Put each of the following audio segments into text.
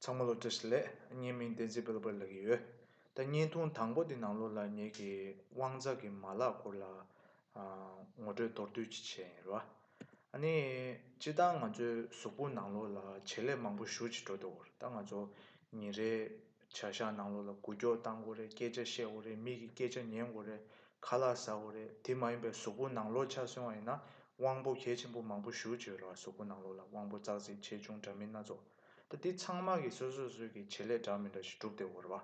ཚང་མ་སློབ་གྲྭ་ཞིག་ལས་བརྙན་མིང་བདེན་ཚིག་སྤེལ་པར་ལབ་ཀྱི་ཡོད། ད་བརྙན་ཐུང་དང་པོ་འདི་ནང་ལོ་ལ་ཉེ་གི་དབང་རྩ་གི་མ་ལག་སྐོར་ལ་ངོ་སྤྲོད་མདོར་བསྡུས་ཀྱིས་བྱས་ཡིན་རོ། ཨ་ནི། སྤྱི་བཏང་ང་ཚོའི་གཟུགས་པོ་ནང་ལོ་ལ་བྱེད་ལས་མང་པོ་བཞུར་གྱིས་འགྲོ་འདུག་ད་ང་ཚོ་ཉིན་རེའི་བྱ་བཞག་ནང་ལོག་ལ་དགུ་སྐྱོར་བཏང་དགོས་རེད་སྐད་ཆ་བཤད་དགོས་རེད་མིག་གི་སྐད་ཆ་ཉན་དགོས་རེད་ཁ་ལག་ཟ་དགོས་རེད་དེ་མ་ཡིན་པའི་གཟུགས་པོ་ནང་ལོག་ཆགས་སོན་བ་ཡིན་ན་དབང་པོ་གལ་ཆེན་པོ་མང་པོ་ཞུ་བྱེད་རོགས་ཨ་གཟུགས་པོ་ནང་ལོག་ལ་དབང་པོ་ཙག་ཙིག་ཆེ་ཆུང་འདྲ་མིན་སྣ་ཚོགས་ད་དེ་ཚང་མ་གི་སོ་སོ་སོས་ཀྱི་བྱེད་ལས་འདྲ་མི་འདྲ་ཞིག་གྲུབ་སྟེ་འོར་བ་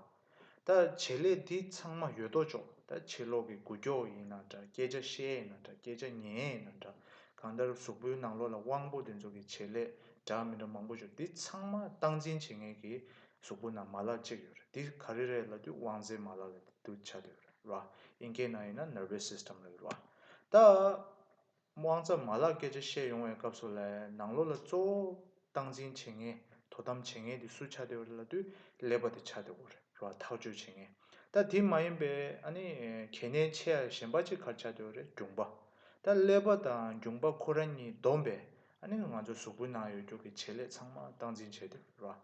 ད་བྱེད་ལས་དེ་ཚང་མ་ཡོད་དོ་ཅོག་ད་བྱེད་ལོག་གི་དགུ་སྐྱོག་ཡིན་ན་འདྲ་སྐད་ཆ་བཤད་ཡིན་ན་འདྲ་སྐད་ཆ་ཉན་ཡིན་ན་འདྲ་གང་ལྟར་གཟུགས་པོའི་ནང་ལོག་ལ་དབང་པོ་དེ་ཚོ་གི་བྱེད་ལས་འདྲ་མི་འདྲ་མང་པོ་ཞུ་དེ་ཚང་མ་སྟངས་འཛིན་བྱེད་མཁན་གི་གཟུགས་པོ་ན་མ་ལ་གཅིག་ཡོད་རེད་འདི་ག་རེ་རེད་ལ་དུས་དབང་རྫས་མ་ལ་ལ་དུ་བྱ་དུས་ཡོད་རེད་ར་ཨིན་ཀའི་ནང་ཡིན་ན Nervous System ལ་ཡོད་རེད་ར། ད། དབང་རྫ་མ་ལ་སྐད་ཆ་བཤད་ཡོང་བའི་སྐབས་སུ་ལ་ནང་ལོ་ལ་གཙོ་བོ་སྟངས་འཛིན་བྱེད་ངེས་དོ་དམ་བྱེད་ངེས་དེ་སུ་བྱ་དུས་ཡོད་རེད་ལ་དུས་ལེགས་པ་དེ་བྱ་དུས་ཡོད་རེད་ར་ཐག་གཅོད་བྱེད་ངེས་ད་དེ་མ་ཡིན་པའི་ཨ་ནི་གལ་གནད་ཆེ་ཡ་གཞན་པ་ཅིག་གར་བྱ་དུས་ཡོད་རེད་སྒྲུང་པ་ད་ཀླད་པ་དང་སྒྱུང་པ་ཁོ་ར་གཉིས་བསྡོམས་པས་ཨ་ནི་ང་ཚོའི་གཟུགས་པོའི་ནང་ཡོད་རྒྱུག་གི་བྱེད་ལས་ཚང་མ་སྟངས་འཛིན་བྱེད་དེ་ར།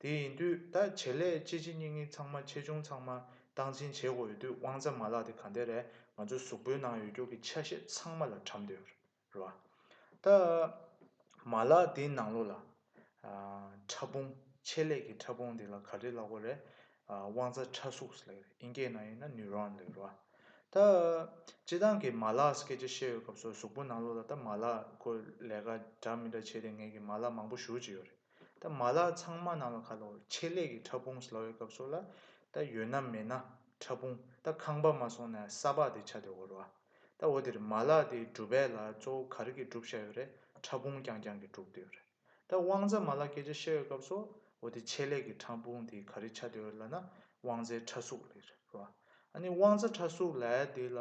དེ་ཡིན་དུས་ད་བྱེད་ལས་ལྕི་ལྕི་སྙིགས་སྙིགས་ཚང་མ་ཆེ་ཆུང་ཚང་མ་སྟངས་འཛིན་བྱེད་དགོས་ཡོད་དུས་དབང་རྩ་མ་ལག་དེ་ག་འདི་རས་ང་ཚོའི་གཟུགས་པོའི་ནང་ཡོད་རྒྱུག་གི་ཆ་ཤས་ཚང་མ་ལ་བཀྲམ་དེ་ར། ད་མ་ལག་དེའི་ནང་ལོ་ལ། ཕྲ་ཕུང་ཆེད་ལས་ཀྱི་ཕྲ་ཕུང་དེ་ལ་ག་རེ་ལ་གོ་རས། དབང་རྩ་ཕྲ་གཟུགས་ལས་རེད་ཨིན་སྐད་ནང་ཡིན་ན Neuron ལས་རོ། ད། སྤྱི་བཏང་གི་མ་ལག་སྐད་ཆ་བཤད་ཡོད་སྐབས་སུ་གཟུགས་པོ་ནང་ལོགས་ལ་ད་མ་ལག་ཁོ་ལས་ཀ་འདྲ་མི་འདྲ་བྱས་ཏེ་ངེད་ཀྱི་མ་ལག་མང་པོ་བཞུར་གྱི་ཡོད་རེད། ད་མ་ལག་ཚང་མ་ནང་ལ་ཁ་ལོ་ཆེད་ལས་ཀྱི་ཕྲ་ཕུང་ལོགས་ཡོད་སྐབས་སུ་ལ་ད་ཡོད་ན་མེད་ན་ཕྲ་ཕུང་ད་ཁང་པ་མ་སོང་ན་ས་ཕག་དེ་ཆ་དེ་འོ་རོ་ཨ། ད་འོ་དེར་མ་ལག་དེའི་གྲུབ་དཔལ་ལ་གཙོ་བོ་ག་རེ་གྱིས་གྲུབ་བཤད་ཡོད་རེད་ཕྲ་ཕུང་རྐྱང་རྐྱང་གིས་གྲུབ་དུས་རེད། ད་དབང་རྫ་མ་ལ་སྐད་ཆ་བཤད་ཡོད་སྐབས་སོ་འོ་དེ་ཆད་ལས་ཀྱི་ཕྲ་འབུང་དེ་ག་རེ་ཆ་དེ་འོད་ལ་ན་དབང་རྫའི་ཕྲ་གཟུགས་ལས་རེད་བ། ཨ་ནི་དབང་རྫ་ཕྲ་གཟུགས་ལས་དེ་ལ་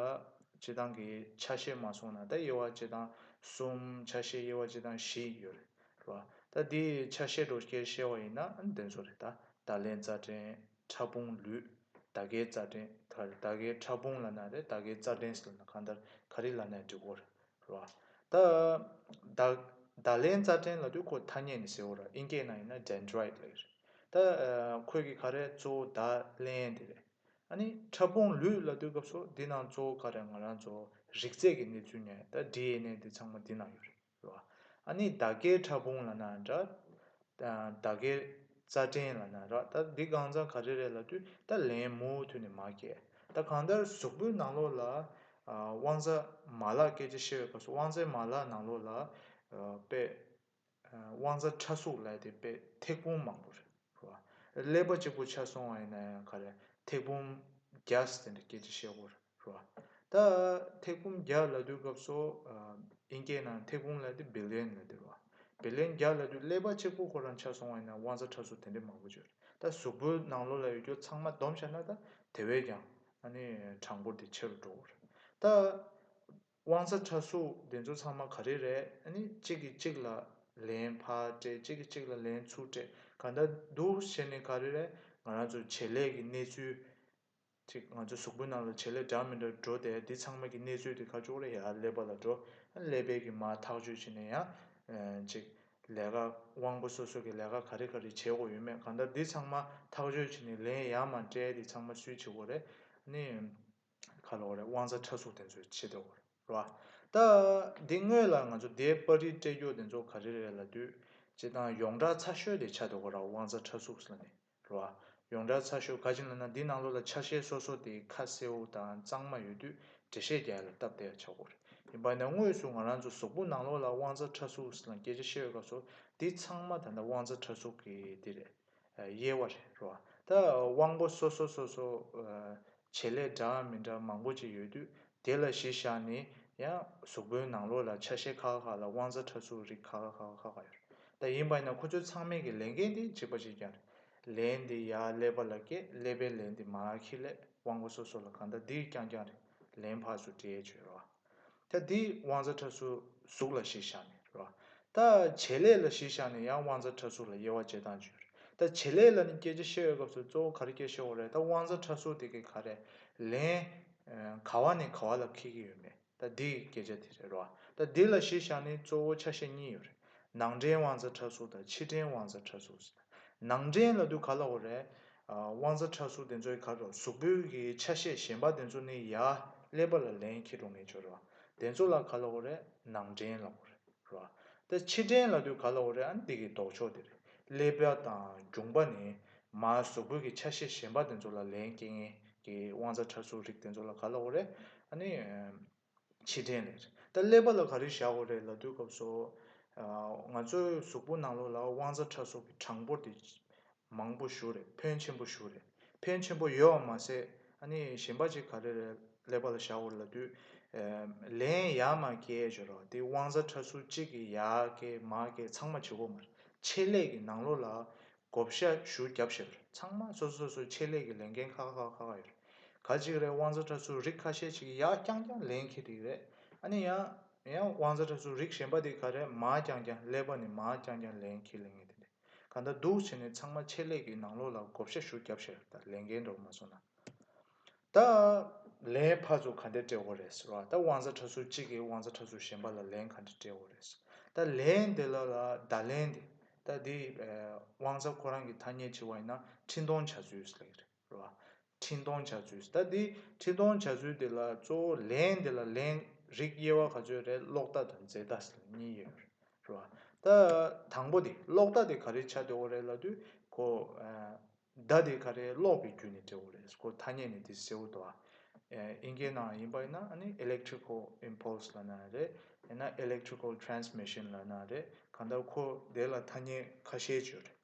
བྱེ་ཐང་གི་ཆ་བཤད་མ་སོང་ན་ད་དབྱེ་བ་བྱེ་ཐང་གསུམ་ཆ་བཤད་དབྱེ་བ་བྱེ་ཐང་བཞི་ཡོད་རེད་བ། ད་དེ་ཆ་བཤད་འགྲོ་སྐྱེར་བཤད་བ་ཡིན་ན་ཨ་ནི་དེ་ཚོ་རེད་ད་ད་ལན་རྫ་ཕྲན་ཕྲ་འབུང་ལུས་ད་གའི་རྫ་ཕྲན་ག་རེ་ད་གའི་ཕྲ་འབུང་ལ་ན་རེད་ད་གའི་རྩ་ཕྲན་སི་ལ་ན་གང་ལྟར་ག་རེ་ལ་ན་འབྲི་གོ་རེད་ལ། ད། ད་ལན་རྩ་ཕྲན་ལ་དུས་འཁོར་ཐ་སྙད་ནི་ཟེར་བོ་ར་ཨིན་སྐད་ནང་ཡིན་ན Dendrite ལ་ཡོད་རེད། ད། ཁོད་ཀྱི་ཁ་རས་གཙོ་བོ་ད་ལན་དེ་རེད། ཨ་ནི་ཕྲ་ཕུང་ལུས་ལ་དུས་སྐབས་སོ་དེ་ནང་གཙོ་བོ་ཁ་རས་ང་རང་ཚོ་རིག་རྩལ་གྱི་གནས་ཚུལ་ནས་ད DNA དེ་ཚང་མ་དེ་ནང་ཡོད་རེད། ལ། ཨ་ནི་ད་ཀའི་ཕྲ་ཕུང་ལ་ན་འདྲ། ད་གེ། རྩ་བྲན་ལ་ན་རག་ད་འདི་སྒང་ཙང་ག་རེ་རེད་ལ་དུས་ད་ལན་མུ་མཐུད་ནས་མ་སྐྱེ། ད་གང་ལྟར་གཟུགས་པོའི་ནང་ལོགས་ལ། དབང་རྩ་མ་ལག་སྐད་ཆ་བཤད་བའི་སྐབས་སུ་དབང་རྩའི་མ་ལག་ནང་ལོགས་ལ། དཔེ། དབང་རྩ་ཕྲ་གཟུགས་ལས་དེ་དཔེ་ཐེག་དཔུང་མང་པོ་རེད། ཀླད་པ་གཅིག་པུ་ཆགས་སོང་བ་ཡིན་ན་ཡང་ག་རེ་ཐེག་དཔུང་བརྒྱ་སེ་འདྲ་སྐད་ཆ་བཤད་དགོས་རེད། རོ། ད་ཐེག་བུམ་བརྒྱ་ལ་བསྡུ་སྐབས་སོ། དབྱིན་སྐད་ནང་ཐེག་བུམ་ལ་དེ Billion ལ་ཟེར་རོ། Billion བརྒྱ་ལ་བསྡུ་ཀླད་པ་གཅིག་པོ་ཁོ་རང་ཆགས་སོང་བ་ཡིན་ན་དབང་རྩ་ཁྲ་ཟུར་དེ་འདྲའི་མང་པོ་བརྗོད་རེད་ད་གཟུགས་པོའི་ནང་ལོགས་ལ་ཡོད་རྒྱུ་ཚང་མ་བསྡོམས་བྱས་ན་ད་དེ་བས་ཀྱང་ཨ་ནི་གྲངས་འབོར་དེ་ཆེ་རུ་འགྲོ་རེད། ད་དབང་རྩ་ཁྲ་ཟུར་དེ་ཚོ་ཚང་མ་ག་རེ་རེད་ཨ་ནི་གཅིག་གིས་གཅིག་ལ་ལན་ཕ་སྤྲད་གཅིག་གིས་གཅིག་ལ་ལན་ཚུར་སྤྲད་ག་འདྲ་འདུག་ཞེ་ནས་ག་རེ་རེད་ང་རང་ཚོའི་བྱེད་ལས་ཀྱི་གནས་ཚུལ་ཅིག་ང་ཚོའི་གཟུགས་པོའི་ནང་ལ་བྱེད་ལས་འདྲ་མི་འདྲ་འགྲོ་དེ་འདི་ཚང་མ་གི་གནས་ཚུལ་དེ་ཁ་ཅུག་རེ་ཡར་ཀླད་པ་ལ་འགྲོ། ཀླད་པའི་གི་མ་ཐག་གཅོད་བྱེད་ནས་ཡང། ཅིག། ལས་ཀ། དབང་པོ་སོ་སོ་གི་ལས་ཀ་ག་རེ་ག་རེ་བྱེད་དགོས་ཡོད་མེད་གང་ལྟར་འདི་ཚང་མ་ཐག་གཅོད་བྱེད་ནས་ལན་ཡང་མ་སྤྲད་དེ་ཚང་མ་སུའི་བྱེད་དགོས་རེད། ནི། ཁ་ལོག་རེད་དབང་རྩ་ཕྲ་གཟུགས་དེ་ཚོའི་བྱེད་དགོས་རེད་རོ། ད། འདི་དངོས་ལ་ང་ཚོ་འདའི་པར་རིས་སྤྲད་རྒྱུ་དེ་ཚོ་ག་རེ་རེད་ལ་དུས། ཅེ་དང་ཡོངས་གྲགས་ཚ་ཤོས་དེ་ཆ་དོ་ག་ར་དབང་རྩ་ཕྲ་གཟུགས་ལ་ནི། ལོ། ཡོངས་གྲགས་ཚགས་ཤོག་ག་ཅིག་ལ་ན་འདི་ནང་ལོ་ལ་ཆ་ཤས་སོ་སོ་དེའི་ཁ་གསེའུ་དང་གཙང་མ་ཡོད་དུས་འགྲེལ་བཤད་རྒྱ་ཡེ་ལ་སྟབས་བདེ་ལ་ཆགས་སྒོ་རེད། ཡིན་པ་ན་དངོས་སུ་ང་རང་ཚོ་ཟོག་པོ་ནང་ལོ་ལ་དབང་རྩ་ཁྲ་གཟུགས་ལ་སྐད་ཆ་བཤད་ཡོད་སྐབས་སུ་འདི་ཚང་མ་ད་ལྟ་དབང་རྩ་ཁྲ་གཟུགས་ཀྱི་འདི་རེད། དབྱེ་བ་རེད་རོ། ད་དབང་པོ་སོ་སོ་སོ་སོ། བྱེད་ལས་འདྲ་འམ་མི་འདྲ་མང་པོ་ཅིག་ཡོད་དུས་དེ་ལ་གཞི་བཞག་ནས་ཡང་གཟུགས་པོའི་ནང་ལོགས་ལ་ཆ་ཤས་ཁ་ཁ་ཁ་ལ་དབང་རྩ་ཕྲ་ཚུགས་རིགས་ཁ་ཁ་ཁ་ཁ་ཁ་ཡོད་རེད་ད་ཡིན་པ་ཡིན་ན་ཁོ་ཚོའི་ཚང་མའི་གི་ལས་འགན་དེ་གཅིག་པ་གཅིག་ཀྱང་རེད། ལས་འདི་ཡག་ཀླད་པ་ལ་སྐད་ཀླད་པའི་ལས་འདི་མ་ཁི་ལས་དབང་པོ་སོ་སོ་ལ་གང་ལྟ་འདིར་ཀྱང་ཀྱང་རེད་ལན་ཕག་སུ་དྲེད་བྱོས་རེད་བ། ད་འདི་དབང་རྩ་ཕྲ་ཚུགས་གཟུགས་ལ་གཞི་བཞག་ནས་རེད་བ། ད་བྱེད་ལས་ལ་གཞི་བཞག་ནས་ཡང་དབང་རྩ་ཕྲ་ཚུགས་ལ་དབྱེ་བ་འབྱེད་སྟངས་བྱོས་རེད་ད་བྱེད་ལས་ལ་ནི་སྐད་ཆ་བཤད་ཡོད་སྐབས་སུ་གཙོ་བོ་ག་རེ་སྐད་བཤད་འོག་རེད་ད་དབང་རྩ་ཕྲ་ཚུགས་དེ་གི་ག་རེད་ལན། ག་བ་ནས་ག་བ་ལ་འཁེལ་གྱི་ཡོད་མེད་ད་འདི་གི་སྐད་ཆ་དེ་རེད་རོ། ད་འདི་ལ་གཞི་བཞག་ནི་གཙོ་བོ་ཆ་ཤས་གཉིས་ཡོད་རེད། ནང་འདྲེན་དབང་རྩ་ཁྲག་གསུག་དང་ཕྱི་འདྲེན་དབང་རྩ་ཁྲག་གསུག་ཟེར། ནང་འདྲེན་ལ་དུས་ག་ལ་བོ་རེད། དབང་རྩ་ཁྲག་གསུག་དེ་ཚོའི་གར་རོ་གཟུགས་པོའི་གི་ཆ་ཤས་གཞན་པ་དེ་ཚོ་ནི་ཡ་ཀླད་པ་ལ་ལན་ཁྱི་འགྲོ་ངེས་ཆོ་རེད་བ། དེ་ཚོ་ལ་ག་ལ་བོ་རེད་ནང་འདྲེན་ལ་བོ་རེད། ར། དེ་ཕྱི་དྲན་ལ་དུས་ག་ལ་འོ་རེད་ཨ་འདི་གི་ལྡོག་ཕྱོགས་དེ་རེད་ཀླད་པ་དང་རྒྱུང་པ་ནས་མ་བཟོ་དགོས་ཀི་ཆ་ཤས་གཞན་པ་དེ་ཚོ་ལ་ལན་སྐྱེལ་ངེས་ཀི་དབང་རྩ་ཁྲ་ཚུགས་རིགས་དེ་ཚོ་ལ་ག་ལ་འོ་རེད་ཨ་ནི། ཕྱི་དྲན་ལས་རེད་ད་ཀླད་པ་ལ་ག་རེ་བཞག་འོ་རེད་ལ་དུས་སྐབས་སོ། ང་ཚོའི་གཟུགས་པོ་ནང་ལོགས་ལ་དབང་རྩ་ཁྲ་ཚུགས་ཀི་གྲངས་འབོར་དེ། མང་པོ་ཞུ་རེད་ཕོན་ཆེན་པོ་ཞུ་རེད་ཕན་ཆེན་པོ་ཡོད་བ་མ་ཟད་ཨ་ནི་གཞན་པ་ཅིག་ག་རེ་རེད་ཀླད་པ་ལ་བཞག་འོར་ལ་དུས་ལན་ཡ་མ་ཀྱེ་བྱོས་རོགས་དེ་དབང་རྩ་ཁྲ་ཚུར་གཅིག་གི་ཡ་ཀྱེ་མ་ཀྱེ་ཚང་མ་བྱེད་གོ་མར་ཆེད་ལས་ཀྱི་ནང་ལོ་ལ་བགོ་བཤའ་ཞུ་རྒྱབ་བྱེད་པར་ཚང་མ་སོ་སོ་སོ་ཆེད་ལས་ཀྱི་ལས་འགན་ཁ་ཁ་ཁ་ཁ་ཡོད་རེད་ག་ཅིག་རེད་དབང་རྩ་ཁྲ་ཚུར་རིགས་ཁ་ཤས་ཅིག་ཡ་རྐྱང་རྐྱང་ལེན་གྱི་རིགས་རེད་ཨ་ནི་ཡ་ཡ་དབང་རྩ་ཁྲ་ཚུར་རིགས་གཞན་པ་དེ་ག་རེད་མ་རྐྱང་རྐྱང་ཀླད་པ་ནི་མ་རྐྱང་རྐྱང་ལེན་གྱི་ལེན་ངེས་དེ་འདྲ། གང་ལྟར་སྡུག་བྱས་ནས་ཚང་མ་ཆད་ལས་ཀྱི་ནང་ལོག་ལ་བགོ་བཤའ་ཤུགས་རྒྱབ་ཤེས་རབ་དང་ལས་འགན་འགྲོ་མ་སོང་ན། ད་ལན་ཕར་ཚུར་ག་འདྲས་སྤྲད་འོ་རེད་ར་ད་བང་ས་གྲ་ཟུར་གཅིག་གིས་བང་ས་གྲ་ཟུར་གཞན་པ་ལ་ལན་ག་འདྲས་སྤྲད་འོ་རེད་ད་ལན་འདི་ལ་ལ་ད་ལན་འདི་ད་འདི་བང་ས་ཁོ་རང་གི་ཐ་སྙད་བྱེད་བ་ཡིན་ན་འཕྲིན་གཏོང་བྱ་ཚུལ་ལེགས་རེད། ལ། འཕྲིན་གཏོང་བྱ་ཚུལ། ད་འདི་འཕྲིན་གཏོང་བྱ་ཚུལ་འདི་ལ་གཙོ་བོ་ལན་འདི་ལ་ལན་རིགས་དབྱེ་བ་ག་ཚོད་རེད་ཀློག་བརྡ་དང་འཛེར་བརྡ་ཟེར་བ་གཉིས་ཡོད་རེད་བ། ད་དང་པོ་འདི་ཀློག་བརྡ་དེ་ག་རེ་བྱ་འདོད་འོ་རེད་ལ་དུས་གོ། བརྡ་དེ་ག་རེ་ཀློག་པའི་རྒྱུ་ནས་འབྲེལ་བ་རེད་གོ་ཐ་སྙད་ནི་འདི་ཟེར་བ་དོ། ཨིན་སྐད་ནང་ཡིན་པ་ཡིན་ན་ནི electrical impulse ལ་ན་རེད་ཡིན་ན electrical transmission ལ་ན་རེད་གང་ལྟར་ཁོ་དེ་ལ་ཐ་སྙད་ཁ་ཤས་བརྗོད་རེད།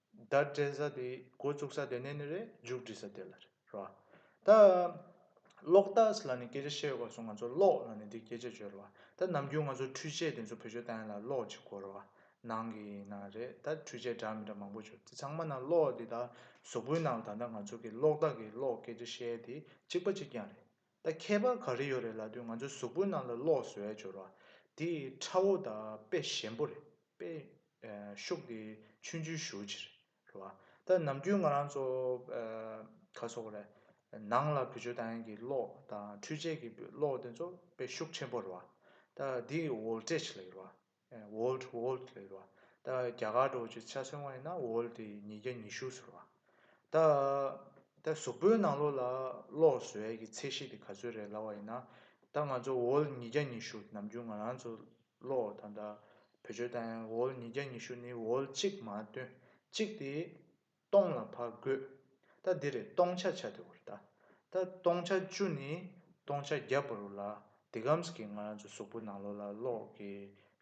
བརྡ་སྤྲད་ས་དེ་འགོ་བཙུགས་ས་དེ་ནས་ནི་རེད་མཇུག་སྒྲིལ་ས་དེ་ལ་རེད་རོ། ད། གློག་རྟ་སི་ལ་ནི་སྐད་ཆ་བཤད་ཡོད་པ་སོང་ང་ཚོ་གློག་ལ་ནི་འདི་སྐད་ཆ་བརྗོད་རོ། ད་ནམ་རྒྱུན་ང་ཚོ་འཕྲུལ་ཆས་དེ་ཚོ་བོད་ཆོས་དང་ཡན་ལ་གློག་ཅིག་གོ་རོ། ནང་གི་ཡིན་ན་རེད་ད་འཕྲུལ་ཆས་འདྲ་མི་འདྲ་མང་པོ་བྱོས་དེ་ཚང་མ་ནང་གློག་དེ་ད་གཟུགས་པོའི་ནང་ད་ད་ང་ཚོ་གི་གློག་རྟ་གི་གློག་སྐད་ཆ་བཤད་དེ་གཅིག་པ་གཅིག་རྐྱང་རེད། ད་ཁྱད་པར་ག་རེ་ཡོད་རེད་ལབ་དུས་ང་ཚོའི་གཟུགས་པོའི་ནང་ལ་གློག་བཟོ་བའི་སྦྱོར་བ་དེ་ཁྲ་བོ་དང་དཔེ་ཞན་པོ་རེད་དཔེ། ཤུགས་དེ་ཆུན་ཆུན་ཞུགས་ཅིག་རེད། ད་ནམ་རྒྱུན་ང་རང་ཚོ། ག་སོགས་རེད། ནང་ལ་བུ་ཆོས་དང་གི་གློག་དང་འཕྲུལ་ཆས་ཀྱི་གློག་དེ་ཚོ་དཔེ་ཤུགས་ཆེན་པོ་རེད། ད་དེ་འོལ་ཏྲེ་ཆེ་ལ་ཡོད་རེད། World World ལས་རོ། ད་རྒྱ་གར་འགྲོ་ཆེད་ཆ་སོན་བ་ཡིན་ན World དེ་ཉིས་བརྒྱ་ཉི་ཤུ་ཟེར་བ། ད། ད་གཟུགས་པོའི་ནང་ལོགས་ལ་ལོགས་བཟོའི་གི་ཚད་གཞི་དེ་ག་ཚོད་རེད་ལབ་བ་ཡིན་ན། ད་ང་ཚོ World ཉིས་བརྒྱ་ཉི་ཤུ་ནམ་རྒྱུན་ང་རང་ཚོ་ལོགས་ད་ད་བོད་ཆོལ་དང་ཡང World ཉིས་བརྒྱ་ཉི་ཤུ་ནི World གཅིག་མ་སྟོན་གཅིག་དེ་སྟོང་ལ་བར་བགོད། ད་འདིར་སྟོང་ཆ་ཆ་དེ་བོ་རེད། ད་སྟོང་ཆ་བཅུ་ནི་སྟོང་ཆ་བརྒྱ་བོ་རུ་ལ་དེ་གམས་ཀྱི་ང་རང་ཚོའི་གཟུགས་པོ་ནང་ལོགས་ལ་གློག་གི་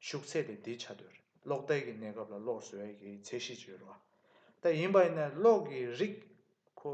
ཤུགས་ཚད་དེ་འདི་ཆ་དོ་རེད་གློག་ཐལ་གྱི་གནས་སྐབས་ལ་གློག་བཟོ་ཡ་གྱི་ཚད་གཞི་ཅིག་ཡོད་རེད་བ། ད་ཡིན་པ་ཡིན་ན་གློག་གི་རིགས་ཁོ།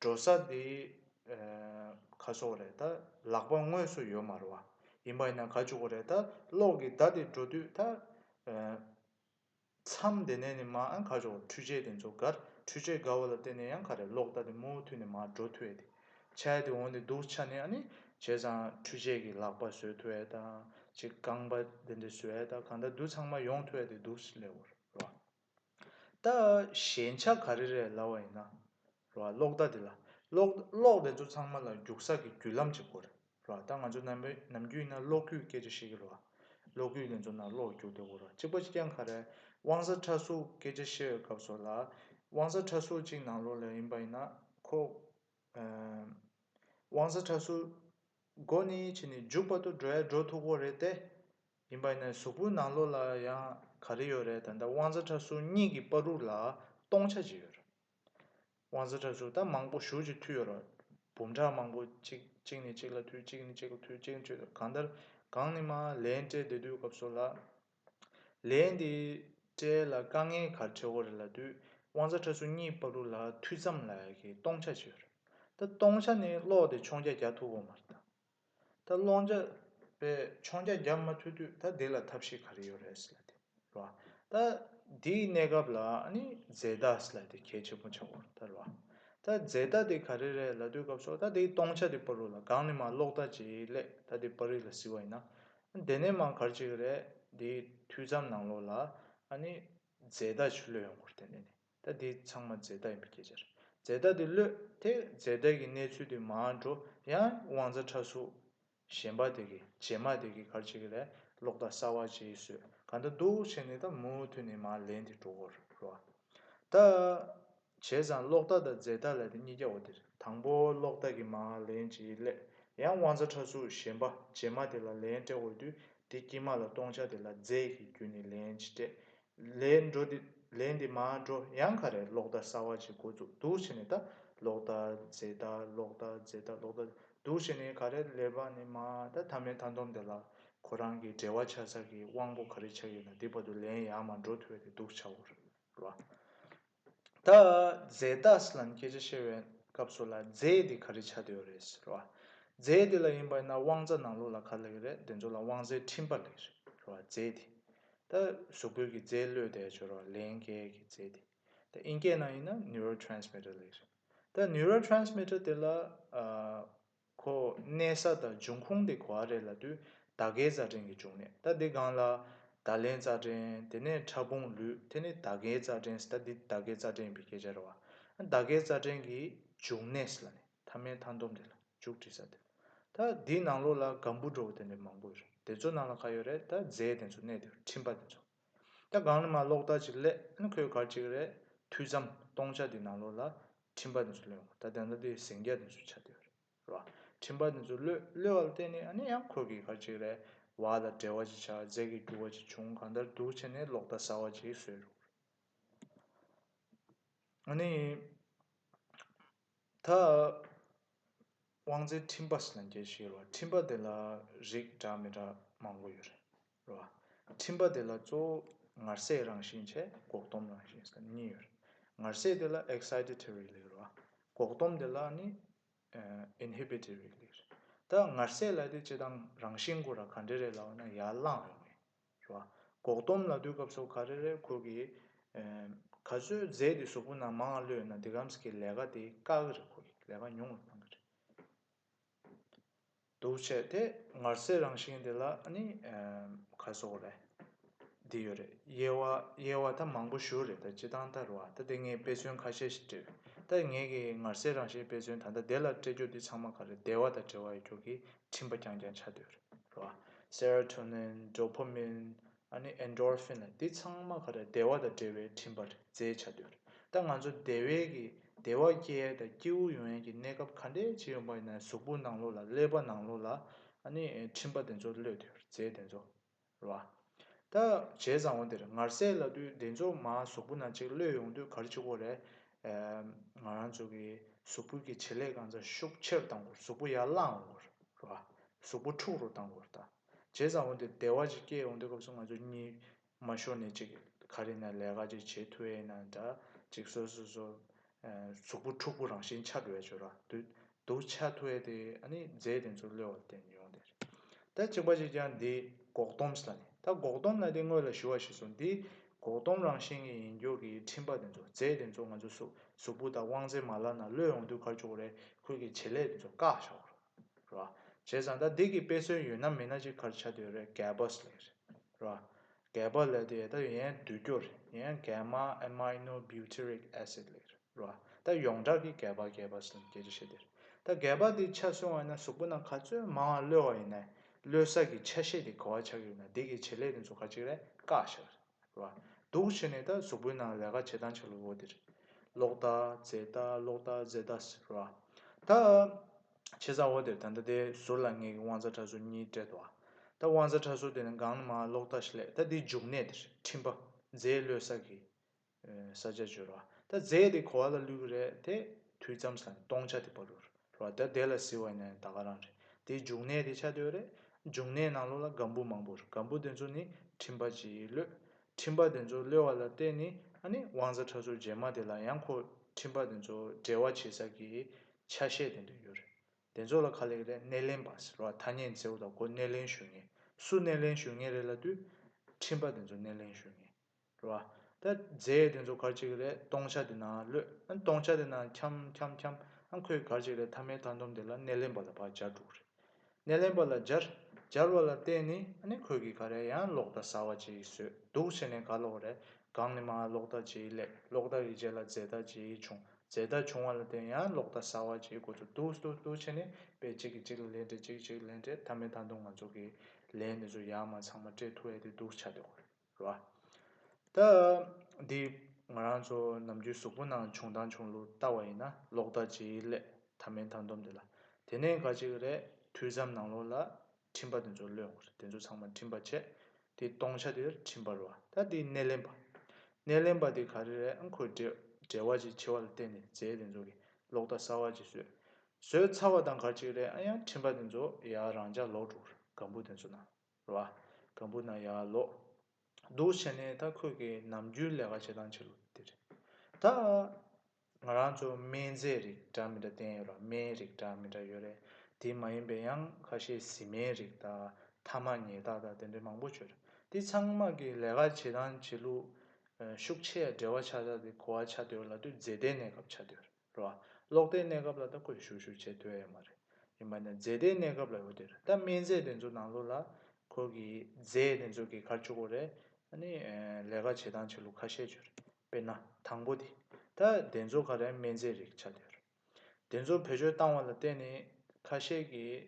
འགྲོ་ས་འདི་ཁ་སོག་རེད་ད་ལག་པ་དངོས་སུ་ཡོད་མ་རུང་བ་ཡིན་པ་ཡིན་ན་ག་བཅུག་གོ་རེད་ད་གློག་གི་བརྡ་དེ་འགྲོ་དུས་ད་མཚམས་འདི་ནས་ནི་མ་ཨང་ག་བཅུག་གོ་འཕྲུལ་ཆས་དེ་ཚོ་གར་འཕྲུལ་ཆས་དགའ་བོ་ལ་བརྟེན་ནས་ཡང་ག་རེད་གློག་བརྡ་དེ་མུ་མཐུད་ནས་མ་འགྲོ་ཐུ་ཨེ་དེ་ཆ་ཡ་དེ་འོང་དེ་འདུག་ཆ་ནས་ཨ་ནི་བྱས་ཙང་འཕྲུལ་ཆས་ཀྱི་ལག་པ་བཟོས་ཐུ་ཨེ་ད་ཅིག་རྐང་པ་འདི་འདི་བཟོས་ཨེ་ད་གང་ད་འདུག་ཚང་མ་ཡོང་ཐུ་ཨེ་དེ་འདུག་ལེའོ་རེད་བ། ད། ཞན་ཆ་ག་རེ་རེད་ལབ་བ་ཡིན་ན། གློག་བརྡ་དེ་ལ། གློག་དེ་ཚོ་ཚང་མ་ལ་རྒྱུག་ས་ཀྱི་རྒྱུ་ལམ་གཅིག་དགོས་རེད། ད་ང་ཚོ་ནམ་རྒྱུན་ཡིན་ན་གློག་སྐུད་སྐད་ཆ་བཤད་ཀྱི་རེད། གློག་སྐུད་དེ་ཚོ་ནང་གློག་རྒྱུག་དེ་དགོས་རེད། གཅིག་པ་ཀྱང་ག་རེ། དབང་ས་ཁྲ་གཟུགས་སྐད་ཆ་བཤད་བའི་སྐབས་སོགས་ལ། དབང་ས་ཁྲ་གཟུགས་གཅིག་ནང་ལོགས་ལ་ཡིན་པ་ཡིན་ན། ཁོ། དབང་ས་ཁྲ་གཟུགས། སྒོ་ནི་ཕྱི་ནས་རྒྱུག་པ་དུ་འགྲོ་ཡ་འགྲོ་ཐུག་གོ་རེད་དེ། ཡིན་པ་ནས་གཟུགས་པོའི་ནང་ལོགས་ལ་ཡང་ག་རེ་ཡོད་རེད་ད་ལྟ་དབང་རྩ་ཁྲ་ཟུར་གཉིས་ཀྱི་པར་རུ་ལ་སྟོང་ཆ་གཅིག་ཡོད་རེད། དབང་རྩ་ཁྲ་ཟུར་ད་མང་པོ་བཞུར་གྱི་མཐུད་ཡོད་རེད། འབུམ་ཕྲག་མང་པོ་གཅིག་གཅིག་ནས་གཅིག་ལ་མཐུད་གཅིག་ནས་གཅིག་ལ་མཐུད་གཅིག་ནས་གཅིག་ལ་གང་ལྟར་གང་ནས་མ་ལན་སྤྲད་བསྡད་དུས་སྐབས་སོགས་ལ། ལན་འདི་སྤྲད་ལ་དཀའ་ངལ་ག་རེ་འཕྲད་འོ་རེད་ལ་དུས་དབང་རྩ་ཁྲ་ཟུར་གཉིས་པར་རུ་ལ་མཐུད་ཙམ་ལ་ཡ་གི་སྟོང་ཆ་གཅིག་ཡོད་རེད་ད་སྟོང་ཆ་ནི་ཀློག་དེ་མཆོང་བརྒྱ་བརྒྱ་ཐུབ་འོ་མ་རེད་ད། ད་སློང་བྱ་བའི་མཆོང་བྱ་རྒྱག་མ་ཐུབ་དུས་ད་འདི་ལ་ཐབས་ཤེས་ག་རེ་ཡོད་རེད་སེ་ལ་དེ་རེད་བ། ད་འདིའི་གནས་སྐབས་ལ་ནི་རྫས་རྟ་སེ་ལ་དེ་གལ་ཆེན་པོ་ཆགས་དགོས་རེད་བ། ད་རྫས་རྟ་དེ་ག་རེ་རེད་ལ་དུས་སྐབས་སོགས་ད་འདིའི་སྟོང་ཆ་དེ་སྤོ་རུ་ལ་སྒང་ནས་མ་ཀློག་ད་ཅི་སླད་ད་འདི་པར་རིས་ལ་བཟི་བ་ཡིན་ན། དེ་ནས་མང་གར་ཅིག་རེད་འདིའི་དུས་མཚམས་ནང་ལོགས་ལ་ནི་རྫས་རྟ་ཆུ་ལོད་ཡོང་དགོས་རེད་དེ་ནས་ནི། ད་དེ་ཚང་མ་རྫས་རྟགས་ཡིན་པའི་སྐད་ཆ་རེད། རྫས་རྟགས་དེ་གློད་དེ་རྫས་རྟགས་ཀྱི་གནས་ཚུལ་དེ་མར་འགྲོ་ཡང་དབང་རྩ་ཁྲ་གཟུགས་གཞན་པ་དེ་གི་རྗེས་མ་དེ་གི་གར་བྱེད་ཀྱི་ལས་ལོག་ད་གསར་བ་བྱེད་སོད་ག་འདྲ་འདུག་བྱེད་ནས་ད་མུ་མཐུད་ནས་མར་ལེན་དེ་འགྲོ་གོ་རོག་ད། བྱས་ཙང་ལོག་ད་དང་རྫས་རྟགས་ལས་དེ་གཉིས་ཀྱ་བོ་དེ་རེད་དང་པོ་ལོག་ད་གི་མར་ལེན་བྱེད་ཀྱི་སླད་ཡང་དབང་རྩ་ཁྲ་གཟུགས་གཞན་པ་རྗེས་མ་དེ་ལ་ལན་སྤྲད་དགོས་དུས་དེ་དཀྱིལ་མ་ལ་སྟོང་ཆ་དེ་ལ་རྫས་ཀྱི་རྒྱུ་ནས་ལན་ཅི་སྤྲད་ལས་འགྲོ་འདི་ལས་འདི་མ་འགྲོ་ཡང་ག་རེ་ལོག་ལྟ་གསར་བ་ཅིག་འགོ་བཙུགས་འདུག་བྱས་ནས་ད་ལོག་ལྟ་རྫས་ལྟ་ལོག་ལྟ་རྫས་ལྟ་ལོག་ལྟ་འདུག་བྱས་ནས་ག་རེ་ལས་པ་ནི་མ་ད་ད་མེད་ད་འདོམས་དེ་ལ་ཁོ་རང་གི་འབྲེལ་བ་ཆགས་ཚར་གི་དབང་པོ་ག་རེ་ཆགས་ཡོད་ན་འདི་བར་དུ་ལན་ཡང་མ་འགྲོ་ཐུ་བས་དེ་འདུག་བྱའོ་ར། ད་རྫས་རྟགས་ལ་མཁས་བྱ་ཤེས་པའི་སྐབས་སུ་ལ་རྫས་དེ་ག་རེ་བྱ་འདོད་རེད་ཟེར་བ། རྫས་དེ་ལ་ཡིན་པ་ཡིན་ན་དབང་རྩ་ནང་ལུགས་ལ་ག་ལེགས་རེད་དེ་ཚོ་ལ་དབང་རྩའི་ཕྲིན་པ་ལེགས་རེད་ཟེར་བ་རྫས་དེ། ད་གཟུགས་པོའི་གི་རྫས་བློས་བདེ་སྦྱོར་བ་ལན་བརྒྱད་ཀྱི་རྫས་དེ། ད་དབྱིན་སྐད་ནང་ཡིན་ན neurotransmitter ལེགས་རེད། ད neurotransmitter དེ་ལ། ཁོ་གནས་ས་དང་འབྱུང་ཁུངས་དེ་གོ་ཨ་རེ་ལ་དུས་ད་གའི་རྩ་འགྲན་གྱི་འབྱུང་གནས་ད་དེ་གང་ལ། ད་ལན་རྩ་འགྲན་དེ་ནས་ཕྲ་ཕུང་ལུས་དེ་ནི་ད་གའི་རྩ་འགྲན་སི་ད་དེ་ད་གའི་རྩ་འགྲན་བི་གས་སྦྱར་བ། ད་གའི་རྩ་འགྲན་གྱི་འབྱུང་གནས་སི་ལ་ནི་ཐ་མའི་མཐའ་འདོམས་དེ་ལ་འཇུག་བྲིས་ས་དེ། ད་དེའི་ནང་ལོགས་ལ་ག་འབུ་འགྲོ་བོ་དེ་འདྲ་མང་པོ་ཡོད་རེད་དེ་ཚོ་ནང་ལ་ག་ཡོད་རེད་ད་རྫས་དེ་ཚོ་གནས་དེ་ཕྲིན་པ་དེ་ཚོ། ད་གང་ལ་མ་ལོགས་ད་ཅིག་ལས་ཁོས་གར་ཅིག་རེད་དུས་མཚམས་སྟོང་ཆ་དེའི་ནང་ལོགས་ལ་ཁྲིམས་པ་འདི་ཚོ་བློས་འོང་ད་དེ་འདྲ་དུས་ཟིང་རྒྱ་འདི་ཚོ་ཆགས་དུས་རེད་རེད་བ། ཁྲིམས་པ་འདི་ཚོ་བློས་བློས་བ་ལ་བརྟེན་ནས་ཨ་ནི་ཡང་ཁོར་གི་གར་ཅིག་རེད་བ་ལ་འབྲེལ་བ་ཅིག་ཆགས་རྫས་ཀྱི་རྒྱུ་བ་ཅིག་བྱུང་གང་ལྟར་འདུག་བྱས་ནས་ལོག་ལྟ་ཟ་བ་ཅིག་བཟོས་རུང་རེད། ཨ་ནི། ད། དབང་རྩའི་ཁྲིམས་པ་སེ་ན་འགྱེལ་ཤེས་ཡོད་རེད་བ་ཁྲིམས་པ་དེ་ལ་རིགས་འདྲ་མི་འདྲ་མང་པོ་ཡོད་རེད། རོ། ཁྲིམས་པ་དེ་ལ་གཙོ་བོ་ངར་སྲེག་རང་བཞིན་བྱས་འགོག་སྡོམ་རང་བཞིན་སོགས་གཉིས་ཡོད་རེད། ངར་སྲེག་དེ་ལ Excitatory ལེགས་རོ། འགོག་སྡོམ་དེ་ལ་ནི Inhibitory ལེགས་རེད། ད་ངར་སྲེག་ལ་དེ་སྤྱི་དང་རང་བཞིན་གོ་ར་ག་འདྲེ་རེད་ལབ་ན་ཡར་བླངས་རེད་ངེས་རོ། འགོག་སྡོམ་ལ་དུས་སྐབས་སོགས་ག་རེ་རེད་ཁོ་གིས་ག་ཚོད་རྫས་དེ་གཟུགས་པོ་ན་མང་ལོས་ན་དེ་གམ་ས་གིས་ལས་ཀ་དེ་དཀའ་གི་རེད་ཁོ་གིས་ལས་ཀ་ཉུང་ལ་གཏང་གི་རེད། འདུ་བྱེད་དེ་ངར་སའི་རང་བཞིན་དེ་ལ་ནི་ཁ་སོགས་རེ་འདི་ཡོད་རེད་དབྱེ་བ་དབྱེ་བ་ད་མང་པོ་ཞུ་རེད་ད་སྤྱི་དང་ད་རུ་བ་ད་དེ་ངས་དཔེ་མཚོན་ཁ་ཤས་ཤིག་སྤྲད་རེད་ད་ངས་ཀྱི་ངར་སའི་རང་བཞིན་དཔེ་མཚོན་ད་ལྟ་དེ་ལ་སྤྲད་རྒྱུ་འདི་ཚང་མ་ག་རེ་བདེ་བ་དང་བྲེལ་བ་ཡོད་རྒྱུ་གི་འཕྲིན་པ་རྐྱང་རྐྱང་ཆ་དོད་རེད་རུ་བ Serotonin Dopamine ཨ་ནི Endorphin ལ་འདི་ཚང་མ་ག་རེ་བདེ་བ་དང་འབྲེལ་བའི་འཕྲིན་པར་རྫས་ཆ་དོད་རེད་ད་ང་ཚོ་དེ་བས་ཀྱི་བདེ་བ་སྐྱེ་ད་སྐྱེའུ་ཡོན་གྱི་གནས་སྐབས་ག་འདྲའི་ཆེ་ཡོང་པ་ཡིན་ན་གཟུགས་པོ་ནང་ལོགས་ལ་ཀླད་པ་ནང་ལོགས་ལ་ཨ་ནི་འཕྲིན་པ་དེ་ཚོ་གློད་དེ་རྫས་དེ་ཚོ་ར་ད་བྱས་བཟང་བོ་དེར་ངར་སེ་ལ་དུས་བདེ་མཚོ་མ་གཟུགས་པོ་ན་གཅིག་གློད་ཡོང་དུས་གར་གཅིག་པོ་རེད་ང་རང་ཚོ་གི་གཟུགས་པོ་གི་བྱེད་ལས་གང་ཚ་ཤུགས་ཆེར་གཏང་དགོས་གཟུགས་པོ་ཡར་བསླངས་དགོས་ར་གཟུགས་པོ་འཁྲུག་རུ་གཏང་དགོས་ར་ད། བྱས་ཙང་འོན་ཏེ་བདེ་བ་ཅིག་སྐྱེས་ཡོང་དུས་སྐབས་སུ་ང་ཚོ་གཉིས་མ་ཤོར་ནས་ཅིག་ག་རེ་ན་ལས་ཀ་ཅིག་བྱེད་ཐུ་ཨེ་ན་འདྲ་ཅིག་སོ་སོ་སོ་གཟུགས་པོ་ཕྲུག་པོ་རང་བཞིན་ཆ་འགྲོ་བའི་ཆོས་ར་དུད་དུ་ཆ་ཐུ་ཨེ་དེ་ཨ་ནི་རྫས་དེ་ཚོ་གློད་བ་བསྟན་ཡོང་བསྡད་རེད་ད་གཅིག་པ་ཅིག་ཀྱང་འདི་འགོག་སྡོམས་ལ་ནི་ད་འགོག་སྡོམས་ལ་དེ་དངོས་ལ་ཞུ་བ་ཞིག་སོང་འདི་འགོག་སྡོམས་རང་བཞིན་གྱི་ཡིན་རྒྱུ་གི་ཁྲིམས་པ་དེ་ཚོ་རྫས་དེ་ཚོ་ང་ཚོ་གཟུགས་པོ་དང་དབང་རྫས་མ་ལ་ན་གློད་ཡོང་དུས་གར་བཅུག་རེ་ཁུལ་གྱི་བྱེད་ལས་དེ་ཚོ་བཀག་བཞག་རོགས། ར། བྱས་ཙང་ད་འདི་གི་དཔེ་སྲོལ་ཡོད་ན་མིན་ན་ཅིག་གར་ཆ་དུས་རེད་གལ་པོ་སི་ལེར། ར། གལ་པོ་ལེར་དུ་ཡས་ད་ཡན་དུས་སྐྱོ་རེད་ཡན་གལ་མ Amino Butyric Acid ལེར། ར། ད་ཡོངས་གྲགས་ཀི་གལ་པ་གལ་པ་སི་ལེན་གལ་ཆེ་ཤེས་དེར། ད་གལ་པ་དེ་ཆ་སོང་བ་ཡིན་ན་གཟུགས་པོ་ན་ག་ཚོད་མང་བ་གློད་བ་ཡིན་ནའི་གློད་ས་གི་ཆ་ཤས་དེ་གོ་བ་ཆགས་ཡོད་ན་འདི་གི་བྱེད་ལས་དེ་ཚོ་ག་ཅིག་རེད་བཀག་ཤག་རེད། བ། འདུག་བྱས་ནས་ད་གཟུགས་པོའི་ནང་ལས་ཀ་བྱེད་སྟངས་ཆགས་ལུགས་འོ་དེ་རེད། ལོག་ལྟ་རྫས་ལྟ་ལོག་ལྟ་རྫས་ལྟ་ཟེར་བ། ད། བྱེད་སྟངས་འོ་དེར་ད་ལྟ་དེ་ཟུར་ལ་ངེད་ཀྱི་དབང་རྩ་ཁྲ་ཟུར་གཉིས་སྤྲད་འདུག་ཨ། ད་དབང་རྩ་ཁྲ་ཟུར་དེ་ནི་གང་ན་མ་ལོག་ལྟ་ཞིག་ལས་ད་དེའི་འཇུག་གནས་དེ་རེད་ཁྲིམས་པ། རྫས་བློས་བསགས་ཀྱི། ས་ཆ་བརྗོད་རོགས་ཨ། ད་རྫས་དེ་གོ་བ་ལ་བླུས་ཀྱི་རེད་དེ། དུས་མཚམས་སུ་ལ་ནི་སྟོང་ཆ་དེ་སྤར་རོགས། ལོ་ཟླ་བདེ་ལ་བཟི་བ་ནི་ད་ག་རང་རེད་དེའི་འབྱུང་གནས་དེ་ཆ་དོད་རེད། འབྱུང་གནས་ནང་ལོགས་ལ་སྒམ་པོ་མང་པོ་རེད་སྒམ་པོ་དེ་ཚོ་ནི་ཁྲིམས་པ་ཅིག་གློད། ཁྲིམས་པ་དེ་ཚོ་གློད་བ་ལ་བརྟེན་ནས་ཨ་ནི་དབང་རྩ་ཁྲ་ཟུར་རྗེས་མ་དེ་ལ་ཡང་ཁོ་ཁྲིམས་པ་དེ་ཚོ་འབྲེལ་བ་བྱེད་ས་ཀྱི་ཆ་ཤས་དེ་འདོན་རྒྱུ་རེད། དེ་ཚོ་ལ་ཁ་ལེགས་རེད་སྣེ་ལེན་པ་ཟེར་བ་ཐ་སྙད་མཛེའུ་དང་ཁོ་སྣེ་ལེན་ཞུ་ངེས་སུ་སྣེ་ལེན་ཞུ་ངེས་རེད་ལ་དུས་ཁྲིམས་པ་དེ་ཚོ་སྣེ་ལེན་ཞུ་ངེས་རེད་བ། ད་རྫས་དེ་ཚོ་གར་བྱེད་ཀྱི་རེད་སྟོང་ཆ་དེ་ནང་སློད། སྟོང་ཆ་དེ་ནང་འཁྱམ་འཁྱམ་འཁྱམ། ཁོས་གར་བྱེད་ཀྱི་རེད་ཐ་མའི་མཐའ་འདོམས་དེ་ལ་སྣེ་ལེན་པ་ལ་བག་སྦྱར་འགྲོ་གི་རེད། སྣེ་ལེན་པ་ལ་སྦྱར། སྦྱར་བ་ལ་བརྟེན་ནས་ནི་ཁོས་གིས་ག་རེ་ཡང་ལོག་ལྟ་ཟ་བ་བྱེད་ཀྱི་སོད་འདུག་བྱས་ནས་ག་ལོག་གི་རེད། གང་ནས་མ་ལོག་ལྟ་བྱེད་ཀྱི་ལེད་ལོག་ལྟ་གི་རྗེས་ལ་རྫས་ལྟ་བྱེད་ཀྱི་བྱུང་རྫས་ལྟ་བྱུང་བ་ལ་བརྟེན་ཡང་ལོག་ལྟ་ཟ་བ་བྱེད་དགོས་ཚོད་འདུག་འདུག་འདུག་བྱས་ནས་དཔེ་གཅིག་གིས་གཅིག་ལ་ལན་སྤྲད་གཅིག་གིས་གཅིག་ལ་ལན་སྤྲད་ཐ་མའི་མཐའ་འདོམས་ང་ཚོ་གིས་ལན་དེ་ཚོ་ཡར་མ་ཚང་མ་སྤྲད་ཐུབ་ཨེ་དེ་འདུག་བྱ་དགོས་རེད། རོ། ད་འདི་ང་རང་ཚོ་ནམ་རྒྱུན་གཟུགས་པོ་ནང་བྱུང་དང་བྱུང་ལུགས་ལྟ་བ་ཡིན་ན་ལོག་ལྟ་ཇི་སླད་ད་མིན་ད་འདོམས་དེ་ལ་དེ་ནས་འགའ་ཅིག་རེ་དུས་ཙམ་ནང་ལོག་ལ་འཕྲིན་པ་དེ་ཚོ་གློད་ཡོང་གི་རེད་དེ་ཚོ་ཚང་མ་འཕྲིན་པ་ཆད་དེ་སྟོང་ཆ་དེར་འཕྲིན་པ་རོ་ད་འདི་སྣེ་ལེན་པ། སྣེ་ལེན་པ་དེ་ག་རེ་རེད་ཨང་ཁོས་བྲེལ་བ་ཅིག་ཆེ་བ་ལ་བརྟེན་ནས་རྫས་དེ་ཚོ་གི་ལོག་ལྟ་གསར་བ་ཅིག་བཟོས་བཟོས་ཚར་བ་དང་ག་ཅིག་རེ་ཨང་ཡང་འཕྲིན་པ་དེ་ཚོ་ཡང་རང་འཇགས་ལོག་འགྲོ་གི་རེད་སྒམ་པོ་དེ་ཚོ་ནང། ལ། གང་བུ་ན་ཡར་ལོག། འདུག་བྱས་ནས་ད་ཁོས་ཀྱི་ནམ་རྒྱུན་ལས་ཀ་བྱེད་སྟངས་ཕྱི་རུ་དེ་རེད། ད། ང་རང་ཚོ་སྨན་རྫས་རིགས་འདྲ་མི་འདྲ་བསྟེན་ཡོད་ལ་སྨན་རིགས་འདྲ་མི་འདྲ་ཡོད་རེད། དེ་མ་ཡིན་པའི་ཡང་ཁ་ཤས་བཟི་སྨན་རིགས་དག་ཐ་མ་ཉེས་རྟགས་དག་དེ་འདྲའི་མང་པོ་བྱོས། དེ་ཚང་མ་གི་ལས་ཀ་བྱེད་སྟངས་བྱེད་ལུགས། ཤུགས་ཆེ་ཡ་བྲེལ་བ་ཆགས་ཚར་དེ་གོ་བ་ཆགས་སྡོད་ལ་དུས་མཛེས་ལྡན་གནས་སྐབས་ཆགས་སྡོད་རེད། རོ། གློག་དེའི་གནས་སྐབས་ལ་ད་བཀོད་ཞུ་ཞུ་བྱེད་འདོད་ཨེ་མ་རེད། ཡིན་པ་ནི་རྫས་དེའི་གནས་སྐབས་ལ་ཡོད་དེ་རེད་ད་སྨན་རྫས་དེ་ཚོ་ནང་ལོགས་ལ། ཁོ་གིས་རྫས་དེ་ཚོ་གི་ཁར་བཅུག་གོ་རེད། ཨ་ནི། ལས་ཀ་བྱེད་སྟངས་བྱེད་ལུགས་ཁ་ཤས་བརྗོད་རེད། དཔེར་ན། དང་པོ་དེ། ད་དེ་ཚོ་ག་རེ་སྨན་རྫས་རིགས་ཆགས་འདོད་རེད། དེ་ཚོ་བེད་སྤྱོད་བཏང་བ་ལ་བརྟེན་ནས། ཁ་ཤས་ཀྱིས།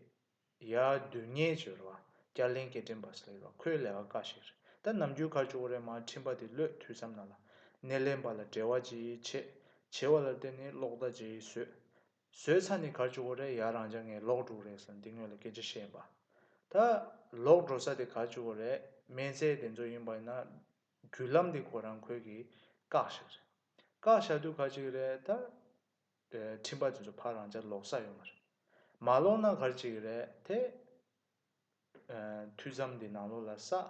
ཡ། རྡུལ་སྙེད་ཀྱི་རོ། སྐྱ་ལེན་སྐད་འཕྲིན་པ་ཟེར་ལེ་རོ་ཁོའི་ལས་ཀ་དཀའ་ཞིག་རེད་ད། ནམ་རྒྱུན་ཁ་ཅུག་རེ་མ་འཕྲིན་པ་དེ་ལོས་འཐུས་སམ་ན་ལ། སྣེ་ལེན་པ་ལ་བྲེལ་བ་ཅི་ཆེད་བྱེད་བ་ལ་བརྟེན་ནས་གློག་བརྡ་ཅི་བཟོས། བཟོས་ཚར་ནས་ཁ་ཅུག་རེ་ཡར་རང་ཅག་ངས་གློག་དཀྲུགས་རེད་ཟེར་འདི་ངོས་ལ་སྐད་ཆ་བཤད་པ། ད། གློག་འགྲོ་ས་དེ་ཁ་ཅུག་རེ་སྨན་རྩེ་དེ་ཚོ་ཡིན་པ་ཡིན་ན། བརྒྱུད་ལམ་དེ་ཁོ་རང་ཁོལ་གྱི། བཀག་ཞིག་རེད། བཀག་བཞག་དུས་ཁ་ཅིག་རེ་ད། ཁྲིམས་པ་དེ་ཚོ་ཕར་རང་ཅག་ལོག་ས་ཡོད་མ་རེད། མ་ལོག་ན་གར་བྱེད་ཀྱི་རེད་དེ། ཐུགས་བསམ་འདི་ནང་ལོག་ལ་ས།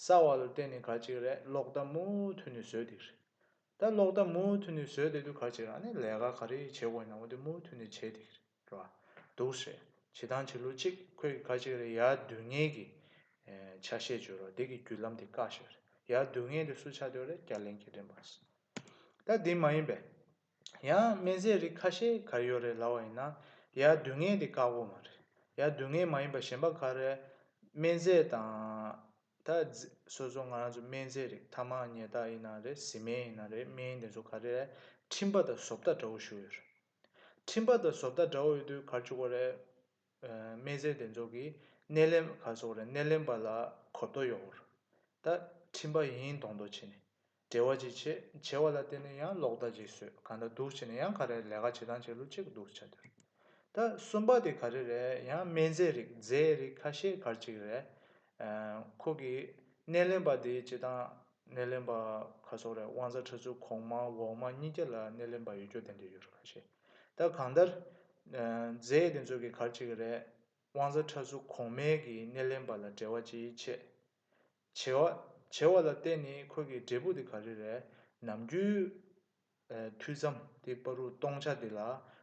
ས་བ་ལ་བརྟེན་ནས་གར་བྱེད་ཀྱི་རེད་ལོག་ལྟ་མུ་མཐུད་ནས་བཟོས་དེ་རེད། ད་ལོག་ལྟ་མུ་མཐུད་ནས་བཟོས་དེ་དུས་གར་བྱེད་ཀྱི་རེད་ལས་ཀ་ག་རེ་བྱེད་དགོས་ནའོ་དེ་མུ་མཐུད་ནས་བྱས་དེ་རེད་ར། འདུག་ཤེས་བྱེད་དང་བྱེད་ལུགས་གཅིག་ཁོས་ཀྱི་གར་བྱེད་ཀྱི་རེད་ཡར་བསྡུས་ངེས་ཀྱི། ཆ་ཤས་བརྗོད་རོགས་འདི་གི་བརྒྱུད་ལམ་དེ་བཀག་ཤེས་རེད་ཡར་བསྡུས་ངེས་དེ་སུ་ཆ་འདོད་རེད་རྒྱ་གླིང་གི་རེད་མ་གསུངས། ད་འདི་མ་ཡིན་པས། ཡང་སྨན་རྫས་རིགས་ཁ་ཤས་ག་རེ་ཡོད་རེད་ལབ་བ་ཡིན་ན། ཡ་སྡུག་བསྔལ་དེ་བཀག་པོ་མ་རེད། ཡ་སྡུག་བསྔལ་མ་ཡིན་པ་གཞན་པ་ག་རེ་རེད། སྨན་རྫས་དང། ད། སོ་སོ་ང་རང་ཚོ་སྨན་རྫས་རིགས་ཐ་མག་ཉལ་རྟགས་ཡིན་ན་རེད་བཟི་སྨན་ཡིན་ན་རེད་སྨན་དེ་ཚོ་ག་རེ་རེད། མཁྲིན་པ་དང་ཟོབ་ལྟ་འདྲ་བོ་ཞུ་ཡོད་རེད། མཁྲིན་པ་དང་ཟོབ་ལྟ་འདྲ་བོ་ཡོད་དུས་གར་བཅུག་པ་རེད། སྨན་རྫས་དེ་ཚོ་གིས་སྣེ་ལེན་པ་ག་ཚོགས་རེད་སྣེ་ལེན་པ་ལ་གོ་བརྡོ་ཡོག་པོ་རེད། ད། མཁྲིན་པ་ཡིན་མདོག་མདོག་བྱས་ནས། བྲེལ་བ་ཅིག་བྱེད་བྱེད་བ་ལ་བརྟེན་ནས་ཡང་ལོག་ལྟ་ཅིག་བཟོས་གང་འདྲ་འདུག་བྱས་ནས་ཡང་ག་རེ་ལས་ཀ་བྱེད་དང་བྱེད་ལུགས་གཅིག་འདུག་བྱ་འདིར་ད་གསུམ་པ་དེ་ག་རེ་རེད་ཡང་སྨན་རྫས་རིགས་རྫས་རིགས་ཁ་ཤས་གར་ཅིག་རེད། ཁོ་གིས་སྣེ་ལེན་པ་དེ་བྱེད་དང་སྣེ་ལེན་པ་ག་སོགས་རེད་དབང་རྩ་ཁྲ་ཆུ་གོང་མ་འོག་མ་གཉིས་ཀྱི་ལ་སྣེ་ལེན་པ་ཡོད་རྒྱུ་དེ་འདྲ་ཡོད་རེད་ཁ་ཤས་ད་གང་ལྟར། རྫས་དེ་ཚོ་གིས་གར་ཅིག་རེད་དབང་རྩ་ཁྲ་ཆུ་གོང་མའི་གིས་སྣེ་ལེན་པ་ལ་བྲེལ་བ་ཅིག་བྱེད་བྱེ་བ། བྱེ་བ་ལ་བརྟེན་ནས་ཁོད་ཀྱི་འབྲས་བུ་དེ་ག་རེ་རེད། ནམ་རྒྱུན། ཐུད་མཚམས་དེ་པ་རུ་སྟོང་ཆ་དེ་ལ་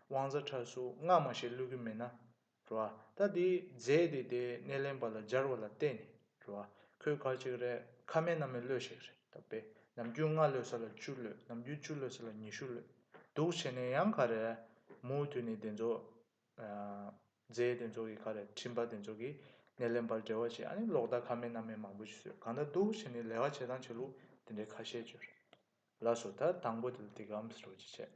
དབང་རྩ་ཁྲ་གཟུགས་སྔ་མ་ཞེས་བླུད་གི་མེད་ན། རེད་བ། ད་དེ་རྫས་དེ་དེ་སྣེ་ལེན་པ་ལ་སྦྱར་བ་ལ་བརྟེན་ནས། རེད་བ། ཁོད་ག་ཅིག་རེད་ཁ་མེད་ན་མེད་བློས་ཞིག་རེད་ད་པས། ནམ་རྒྱུན་ལྔ་བློས་ས་ལ་བཅུ་བློས་ནམ་རྒྱུན་བཅུ་བློས་ས་ལ་ཉི་ཤུ་བློས། འདུག་བྱས་ནས་ཡང་ག་རེ། མུའུ་ཐུད་ནས་དེ་ཚོ། རྫས་དེ་ཚོ་གི་ཁ་རེ་ཁྲིམས་པ་དེ་ཚོ་གི་སྣེ་ལེན་པར་འབྲེལ་བ་བྱས་ཨ་ནི་ལོག་ལྟ་ཁ་མེད་སྣ་མེད་མང་པོ་ཞིག་བཟོས་གང་ལྟར་སྡུག་བྱས་ནས་ལས་ཀ་བྱེད་སྟངས་བྱེད་ལུགས་དེ་འདྲའི་ཁ་ཤས་བཅོས་རེད་ལགས་སོ་ད་དང་པོ་དེ་ལ་དེ་གའམ་ཟེར་བ་ཅི་བྱེད།